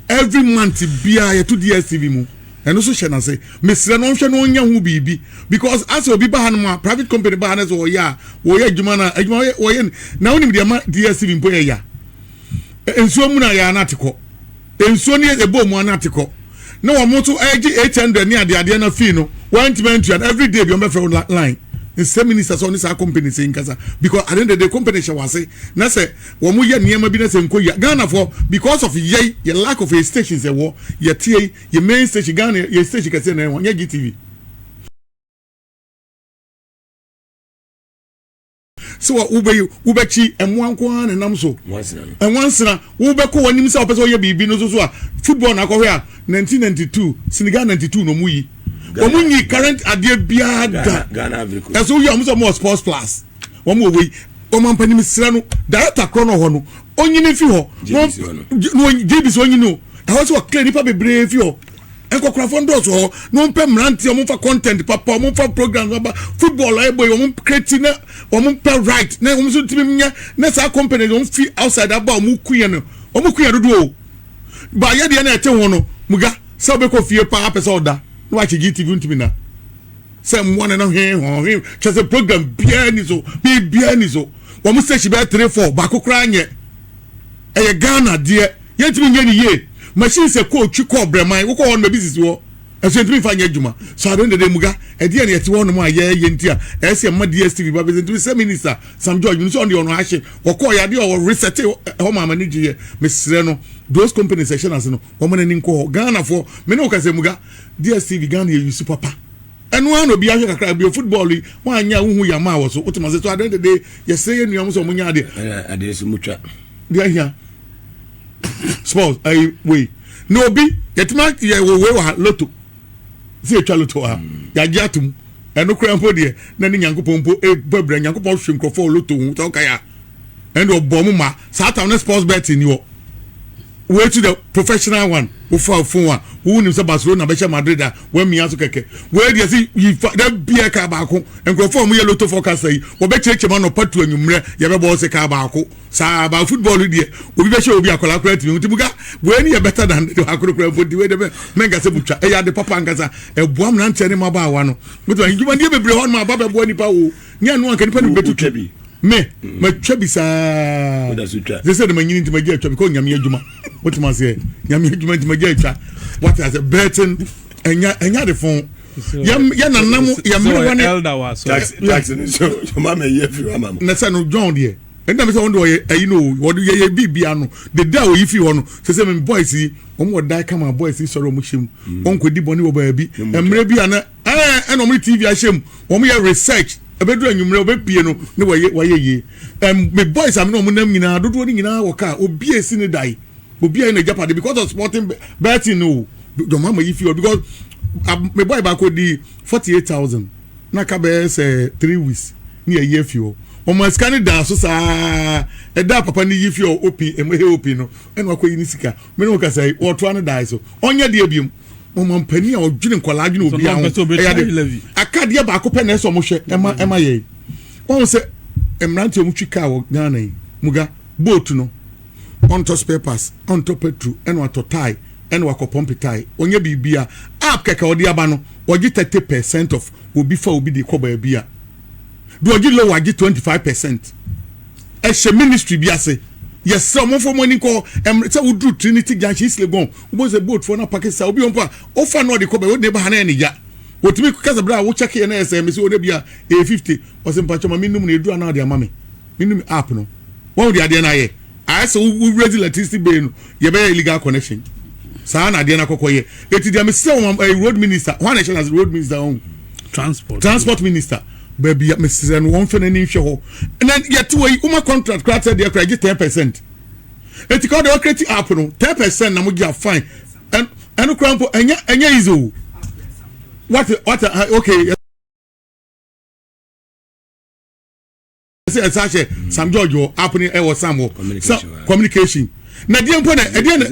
every month biaa yɛto dstv mu ɛno nso hyɛ no ase mesrɛ no ɔnhwɛ no ɔnyɛ ho biribi because asɛ obi ba ha no mu a private company ba ha no sɛ wɔyɛ a wɔyɛ adwuma no a adwuma wɔyɛ na wonim deɛ ma dstv mpo yɛ ya nsuo mu no a yɛa no ate kɔ Nsuo no yɛ bɔ mu ara na te kɔ. Na wɔn nso ɛregye eight hundred ne adeadeɛ na fee no wɔntumi antua no every day bi wɔn bɛfrɛ wo line nsɛ minister sɛ ɔne saa company sɛ nkasa because at the end of the day company hyɛ wase na sɛ wɔn yɛ nneɛma bi na sɛ nkɔ yia Ghana for because of yɛi yɛ lack of a station sɛ wɔ yɛ tie yi yɛ main station Ghana yɛ station kɛseɛ na ɛwɔ nyɛ GTV. sɛ wobɛyi wobɛkyi mmoa nko ara na nam so nwansena wobɛkɔ w'anim sɛ wopɛ sɛ ɔyɛ biribi no so so a football na akɔhwɛ a 1992 Senegal 92 na ɔmo yi ɔmo nyi current adeɛ biara da ɛso yi ɔmo sɛ ɔmo wɔ sports plus ɔmo wɔ wei ɔmo ampanim srɛ no director korɔ no hɔ no onyini fi hɔ na ɔgyebisi onyini o ɛhɔ sɛ ɔkla nipa bebree fi hɔ Nkwakorafoɔ no dɔɔso hɔ na wɔn pɛ mmeranteɛ wɔn fa content papa wɔn fa program papa football a ɛbɔ yi wɔn kreti na wɔn pɛ right na wɔn nso tumi nyɛ na saa company wɔn fi outside aba wɔn ku yɛ no wɔn ku yɛ dodo o baayɛ deɛ na ɛte ho no muga sɛ ɔbɛkɔ fie paa pɛ sɛ ɔda na wakyɛ gtv ntumi na sɛ mmoa ne no hwe ho hwe kyɛ sɛ program biara ni so biribiara ni so wɔn station bɛyɛ three four baako koraa nyɛ ɛyɛ ghana deɛ. Yɛntumi nyɛ no yie. Machine sɛ kɔɔ twi kɔɔ brɛman wokɔ hɔ no baabi sisi hɔ nso yɛntumi mfa nyɛ adwuma so adɛn dada muga ɛdeɛn na yɛte hɔ nom a yɛɛyɛ nti a ɛyɛ sɛ yɛma DSTV ba bɛsɛ ntumi sɛ minister Sam George menim sɛ ɔno deɛ ɔno ahye ɔkɔɔ yɛ adeɛ ɔwɔ reset hɔ maa m'ani gye yɛ mesrɛ no those companies ɛhyɛ no ase no wɔma no ani nkɔ hɔ Ghana foɔ me ne wo ka sɛ muga DSTV Ghana yɛ yusu papa ɛno ara na obi ahwɛ kakra bio football yi wɔn anyɛ a wohu yɛ ama wɔ so wote ma sɛ so adɛn dada yɛsrɛ yɛ nnuam sɛ wɔn nyɛ adeɛ adeɛ sɛ mutwa deɛ ahia sports ɛyi wei na obi yɛtumi ayɛ wɔ wei wɔ ha loto sɛ yɛtwa loto wɔ ha yɛagye atom ɛno koraa mpo deɛ na ne nyankopɔn mpo ɛbɔ abira nyankopɔn hwe nkurɔfoɔ wɔ loto ho sɛ wokae a ɛne ɔbɔ mo ma saa tam ne sports bet ni hɔ wei to the professional one wofa fon a wonim sɛ barcelona bɛhyɛ madrid a woamia so kɛkɛ wei deɛ sɛ yifa da bia kaa baako nkurɔfoɔ a wɔyɛ loto forecast yi wɔbɛkyerɛkyerɛ ma nɔpa to anwummerɛ yɛbɛbɔ sɛ kaa baako Saa ba football no deɛ obi bɛhyɛ obi akwadaa koraa tumi nti muka wei ne yɛ better than de akoro koraa mpo nti wei de bɛ mɛnka sɛ butwa ɛyɛ ade papa nkasa ɛboa mmeranteɛ ne mmabaawa no wotuma ndwuma nneɛ bebree hɔ nom aba bɛboa nipa o nyɛ ɛno anka nipa ne bɛtu twa bi me matwa bi saa sɛ sɛ de manyini nti magya atwa because nyame adwuma wotuma aseɛ nyame adwuma nti magya atwa wate asɛ bɛɛten ɛnya ɛnya de fon yɛ nanam yɛ mmerewa ne taxi ne so yɛ ma mɛ yɛ fi wa ma mo na sɛ no john deɛ ɛna mi sɛ wɔn de wɔyɛ ɛyi no wɔde yɛ yɛ biribi ano dede a wɔyi fi hɔ no sɛ sɛ mi boys yi wɔn wɔ dan kama boys yi sɔrɔ wɔn hyɛ mu mm. wɔn kɔ di bɔnni wɔ baabi mmerɛ bi ana ɛɛ ɛna wɔn tv ahyɛ mu wɔn yɛ research ɛbɛduru anwummerɛ wɔbɛpie no ne wɔyɛ wɔyɛ yie ɛm mi boys a mi na wɔn nam nyinaa dodoɔ ne nyinaa wɔ kaa obi esi ne dan obi ayɛ n'agya pade because of sporting betting no jɔn mama yi fi hɔ because mi boy baako di forty eight thousand. na ka bɛyɛ sɛ three weeks ne yɛyi afi hɔ wɔn sika no daa so saa ɛda a papa no yi fi hɔ opi ɛmɛ he opi no ɛna wakɔ yi ne sika mene wo kasa yi wɔtoa no daa so ɔnyɛ deɛ biom wɔn mpanin a ɔdwene nkɔla adwene obi aho ɛyɛ de akadeɛ baako pɛ na ɛsɛ ɔmo hwɛ ɛma ɛma yɛ wɔn sɛ mmeranteɛ ɔmo twi kaa wɔ Ghana yi muga boat no. ɔntɔ spare parts, ɔntɔ petrol, ɛna watɔ tae, ɛna wakɔ pɔmpe tae. Ɔnyɛ biribia. App kɛkɛ ɔde aba no, ɔgye thirty percent of obi fa obi de kɔ baabi a, deɛ ɔgye low agye twenty five percent. Ɛhyɛ ministry bi ase. Yɛsrɛ ɔmo mfa ɔmo ani nkɔ hɔ. Ɛmmerɛ sɛ woduru Trinity Junction, East Legon, wobɛhu sɛ boat foɔ no apake saa. Obi wɔ mpo a, wofa no ɔde kɔ baabi, wode no ba ha na ɛyɛ ne ya. Wɔtumi ka sɛ berɛ a wo check yɛ na ɛyɛ sɛ, mese wɔn da bi a, ɛyɛ fifty. Ɔse mpakyɛ ma me num no, ɛduru a na ɔde ama me. Menim app no. Wahu deɛ adeɛ no ayɛ? Ayɛ sɛ wo raise electricity bill no, yɛbɛyɛ illegal connection. Saa na adeɛ no akɔkɔ yɛ. Eti deɛ mesrɛ wɔn ɛyɛ eh, road minister, wɔn na ɛhyɛ n'ase road minister wɔn. Transport. Transport minister. Baabi a mesrɛ no wɔn fɛ n'ani nhwɛ hɔ. Na yɛte wɔ yi, wɔn contract koraa sɛ deɛ koraa gye ten percent. Eti kɔ deɛ ɔkreti app no, ten percent na mo gye a fine. Ɛno koraa mpo ɛnyɛ ɛnyɛ easy o. What what okay. sɛ ɛsɛ ahyɛ mm. sam george wɔ app ne ɛwɔ sam wɔ communication na deɛ mpo na ɛdeɛ na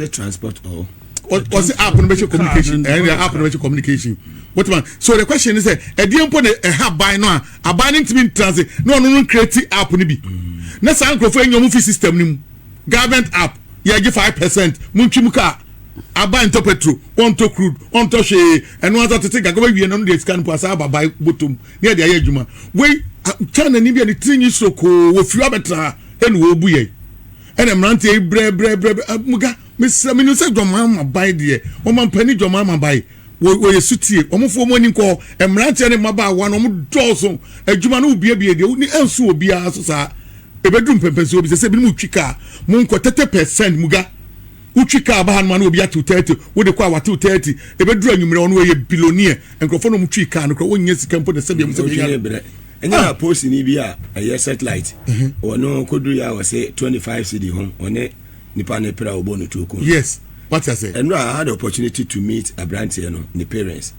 ɔsi app no bɛhyɛ communication ɛyɛ app no bɛhyɛ communication wotima so the question ni sɛ ɛdeɛ mpo na ɛha aban no a aban no ntumi ntra se na ɔno no create app no bi mm. na saa nkurɔfoɔ ɛnyɛ ɔmo fi system no mu government app yɛgye five percent mo ntwi mu kaa aba ntɔ petro ɔntɔ crude ɔntɔ hwee ɛno asa tete gagawa wie no no deɛ sika no po asa aba bae bɔtɔm ne yɛde ayɛ adwuma wei kyanani bi a ne tiri nyi sokoo wɔ fie abɛtena ha ɛna wɔbu yɛn ɛna mmeranteɛ yi brɛbrɛbrɛ muga mesrɛ menim sɛ dwɔmaa ma ban deɛ wɔma mpani dwɔmaa ma ban wɔyɛ sutie wɔmfoɔ mu ani nkɔ mmeranteɛ ne mmabaawa no wɔn dɔɔso adwuma no wobiebie deɛ ne ansu wɔ biara so saa ɛbɛduru mpɛmpɛnsoɔ bi sɛ sɛ binom twi kaa monkɔ tɛtɛ pɛsɛn muga Wotwi kaa ba hanom a na obi atew thirty, wode kɔ a watew thirty, ebeduru anwummere a ɔno ɔyɛ billionaire. Nkurɔfo na wɔtwii kaa no koraa, wonnya sika mpo na sɛdeɛ wɔn sɛ wɔbɛnya no. Ɛnyɛ na postni bi a ɛyɛ satellite, ɔno kɔduru yɛ a ɔsɛ twenty five cedi ho, ɔne nipa no pere a ɔbɔ no tuo kum. Yes, wate ase. Ɛno a I had the opportunity to meet aberanteɛ no ne parents.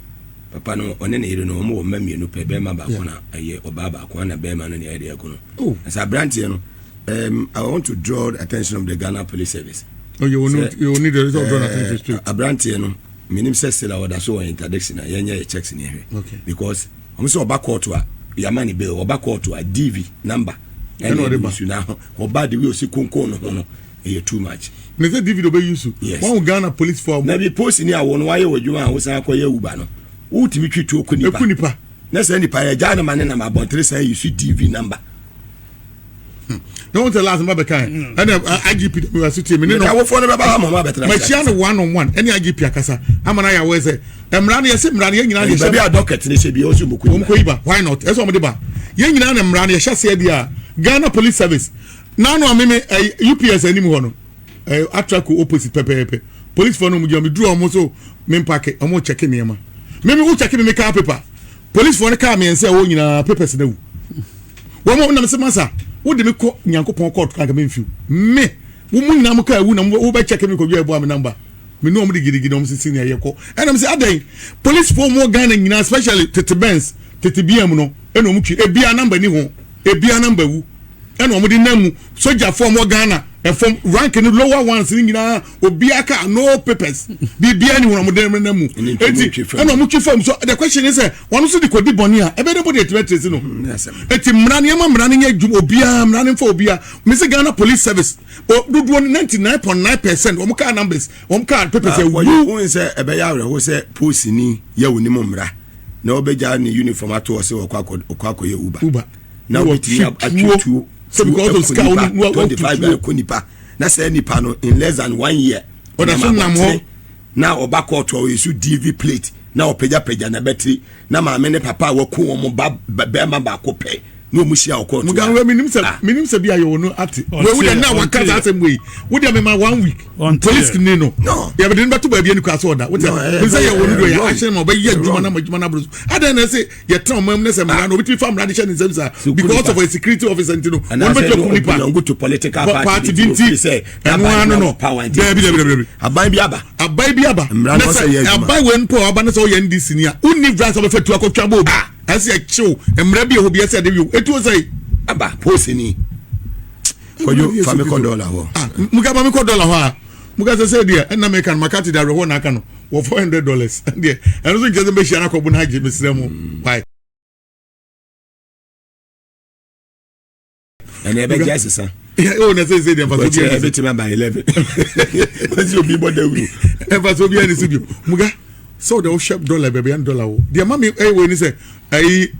Papa no ɔne ne yere no wɔn wɔ mma mmienu pɛ, bɛrima baako na ɛyɛ ɔbaa baako, ɛna bɛrima no na ɛyɛ deɛ ɛkono. Oh. Ɛsɛ aberanteɛ no Um, I want to draw the attention of the Ghana Police Service. Oh, you will need, you will need the result of drawing eh, attention to. Abranteɛ no, menim sɛ sila ɔda so wɔ interdiction a yɛnyɛ yɛ checks ne ɛhwɛ. Okay. Because wɔn sɛ ɔba kɔɔto a yɛama ne bail ɔba kɔɔto a DV number ɛna ɔde ba su na ɔba de wi osi konkon no ho no ɛyɛ too much. ne sɛ DV de ɔbɛ use. yes wɔn Ghana police for. na bi post ni awɔ no wayɛ wɔ adwuma a wosan akɔ yɛ uba no wotumi twi tuo ko nipa. eku nipa. na sɛ nipa yɛ gya anamane nam abɔntere san yi su DV number. na wọn sɛ last mba bɛka yɛ ɛna igp dɛm yɛ ase tie mi ne no awofo no bɛba ha ma ɔmo abɛtena ma kyia no one on one ɛne igp akasa ama na yɛ awɔ sɛ mmara no yɛ sɛ mmara no yɛ nyinaa yɛ hyɛ baabi a dɔkɛt ne hyɛ bi ɔsɛ ɔmo kɔ yi ba ɔmo kɔ yi ba why not ɛsɛ ɔmo de ba yɛ nyinaa na mmara no yɛ hyɛ aseɛ bi a ghana police service nanu ameme ɛɛ ups anim hɔ no ɛɛ atrako opposite pɛpɛɛpɛ polisifoɔ no ɔmo gyina ɔmo duru ɔmo so mi mpaaki ɔmo kyɛke nneɛma mímí wò kyɛke mi mi kaa paper. polisifoɔ no kaa mmiɛnsa ɛwɔ nyinaa papers no awu wɔn a wɔnam sɛ masa wode me kɔ nyankopɔn kɔɔto kanka memfiw me wo mu nyinaa mo kaa awu na wobɛkyɛ kɛ mekɔdwa ɛboa me namba me ne ɔm de gidigidi na ɔm sisi ne ɛyɛ kɔ ɛnam sɛ adɛn polisifoɔ mu wɔ ghana nyinaa especially tete bens tete bia mu no ɛna ɔm twi ebia namba ni ho ebia namba wu ɛna wɔn de nam mu sogyafo wɔn ghana ɛfam rank no lower ones no nyinaa obiara ka no papers biribiara ni wɔn de nam mu eti ɛna wɔn twi fam so the question is sɛ wɔn nso de kɔ di bɔnne a ɛbɛ de bɔ de etibɛ tiri si no eti mmara nneɛma mmara no nyɛ dwuma obiara mmara no nfa obiara mesi ghana police service o dodoɔ no ninety nine point nine percent wɔn kaa numbers wɔn kaa papers ɛwu. wɔyɛ wɔn sɛ ɛbɛyɛ awerɛho sɛ poosini yɛ wɔn nim mmara na ɔbɛgya ne uniform ato ɔsɛ ɔkɔ akɔ ɔkɔ akɔyɛ uber. uber. na wobɛtumi atwe tuo sɛ because of sika wo ne wɔde bible akɔ nipa na saa nipa no in less than one year ɔda so nam hɔ na ɔba kɔɔto a ɔyɛ so dv plate na ɔpagyapagya na bɛtiri na maame ne papa a wɔko wɔn ba bɛrima baako pɛ na wɔn hyia wɔ kɔɔto a wɔn menim sɛ menim sɛ bi ayɛ wɔn no ate wɔn wuli na wɔn kasa asɛm wei wodi amema one week police kini no yɛbɛde no bɛto baabi ɛni kɔ aso ɔda wodi amema sɛ yɛ wɔn no do yɛ ahyɛn ma ɔbɛyɛ adwuma na adwuma na aburo so adan na ɛsɛ yɛtena ɔman mu na sɛ mmara no obi ti fa mmara de hyɛ ne nsam saa because of a security officer nti no wɔn bɛ tɔ kun nipa belong to political party bi nti ɛno ano no dɛbi dɛbi dɛbi dɛbi aban bi aba aban bi aba mmara no sɛ yɛ adwuma aban wɛn pɔ aba ne sɛ ɔyɛ ndc ni a wonni vra sɛ ɔbɛfɛ tu akɔtwa bɔ obi ɛsɛ ɛkyew mmara bi ɛhɔ bi ɛsɛ ɛde yɛ etu ɔsɛ aba posi ni kɔjɔ famikɔ dɔla hɔ mukaba mikɔ dɔla hɔ a mukasa sɛ deɛ ɛnna mɛka no makati da awerɛhoɔ na aka no wɔ four hundred dollars deɛ ɛno nso nkyɛn sɛ mbɛhyia no akɔbo no agye mesrɛ mu why. ɛnna ɛbɛgye asesa. o na sese deɛ nfaso bi a ɛbɛ tɛmɛ ba eleven wɔsi obi bɔ dawuro. nfaso bi a ni si bi muga sɛ o de o hyɛ dɔla bɛbi ɛn dɔla o deɛ mami ɛyɛ wɔ ni sɛ ɛyi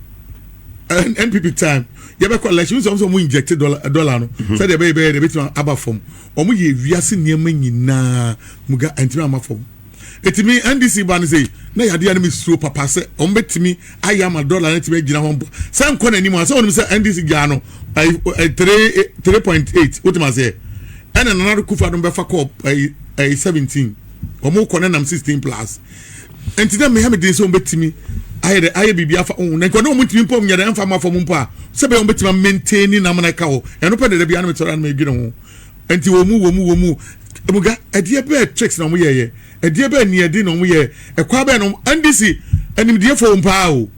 npp time yɛbɛkɔ election sɛ ɔmo sɛ ɔmo inject dɔla no sɛdeɛ ɛbɛyɛ bɛyɛ de ɛbɛtumi aba fam Wɔyɛɛ wiase nneɛma nyinaa mu ga antumi amma fam. Enti me NDC ba no sei, na yadeɛ a na me suro papa sɛ wɔn bɛtumi ayɛ ama dollar no atumi agyina hɔ mpo sɛ nkɔ n'anim a sɛ wɔnim sɛ NDC gyaa no ɛyi ɛyi three three point eight wotum aseɛ ɛna Nana Akufo-Addo bɛfa kɔɔ ɛyi ɛyi seventeen wɔn kɔ ne nam sixteen plus. nti na mmea meden sɛ wɔbɛtumi ayɛ dɛ ayɛ biribi afa wɔn na nkɔdɛ wɔn ntumi mpɔ nyɛ dɛ mfa mu afɔm mpo a sɛ bɛyɛ wɔn bɛtumi amenten ne nam na ɛka hɔ ɛno pɛ dɛdɛ bi anam sɔrɔ anam edwene ho nti wɔn mu wɔn mu wɔn mu ebuga ɛdeɛ bɛɛ tricks na wɔn yɛ yɛ ɛdeɛ bɛɛ nea ɛde na wɔn yɛ ɛkwa bɛɛ na wɔn ndc animdie fo wɔn paa o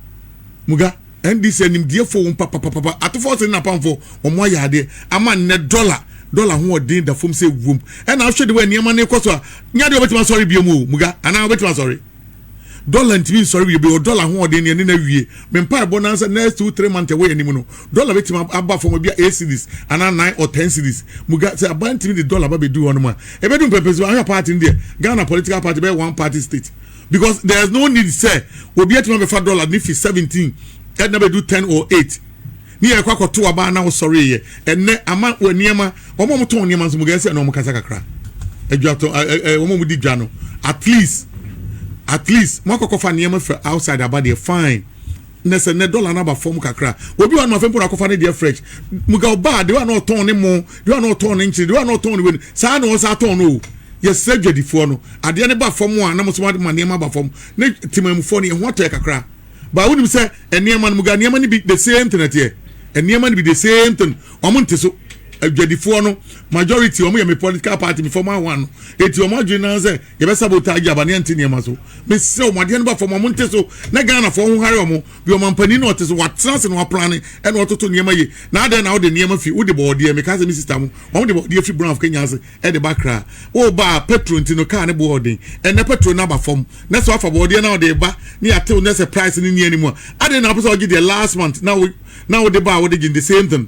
muga. NDC animdiefoɔ wom papapapapa. Atofoɔ se ne napamfoɔ wɔn ayɛ adeɛ ama nnɛ dɔla dɔla hoɔden da fam sɛ wuom. Ɛna wohwɛ de wɔ nneɛma no rekɔ so a, nyɛ adeɛ a wɔbɛtumi asɔre biom o, Muga, anaa wɔbɛtumi asɔre? Dɔla ntumi nsɔre bio bio, dɔla hoɔden no yɛne no awie. Me mpaebɔ no ara sɛ next two three months a ɛwɔ yɛn anim no, dɔla bɛtumi aba fam ebia eight cedis anaa nine or ten cedis. Muga, sɛ aban tumi de dɔla ba bɛduru hɔnom a, ɛbɛdu mpɛmpɛnsoɔ. Ahwɛ party no deɛ, Ghana political party bɛyɛ one party state. because there is no need sɛ obi atumi abɛfa dollar ne fi seventeen ɛna bɛdu ten or eight ne yɛ kɔ akɔto aba na wosɔre yɛ ɛnɛ ama wɔ nneɛma wɔn a wɔtɔn nneɛma nso mo gɛn sɛ ɛna wɔn kasa kakra adwatɔ ɛɛ ɛɛ wɔn a wɔdi dwa no at least at least mo akɔkɔfa nneɛma fɛ outside aba deɛ fine. na sɛ nɛ dollar no aba fam kakra a obi wɔ no afei mpo na akɔfa ne deɛ fresh muga ɔba a deɛ wa na ɔtɔn ne mo deɛ wa na ɔtɔn ne nkyene deɛ wa na ɔtɔn ne wei saa na ɔsa atɔn no o yɛsrɛ dwadifoɔ no adeɛ no ba fam a na mo so ma nneɛma ba fam ne temamufoɔ no yɛn ho atɔ yɛ kakra baa wonim sɛ nneɛma no muga nneɛma no bi the same thing ɛteɛ nneɛma no bi the same thing wɔn nte so adwadifoɔ no majority wɔn yɛ me political party me former one no eti wɔn adwene nan sɛ yɛbɛ sabotage aba ne yɛnte nneɛma so mesrɛ wɔn adeɛ no ba fam a monte so na ghanafoɔ ho hare wɔn bi wɔn ampanin na ɔte so watena ase na waplane ɛna ɔtoto nneɛma yie na adɛn na wode nneɛma fi wode bɔɔdeɛ meka sɛ me sista mo wɔn de bɔɔdeɛ fi brown kenya ase ɛde ba kra wo ba a petro nti no kaa ne boɔ ɔden ɛnɛ petro no aba fam na sɛ wafa bɔɔdeɛ na ɔde ba ne yɛatew na sɛ price no nni anim a adɛn na wopɛ sɛ ɔgye deɛ last month na wo na wode ba a wode gye the same thing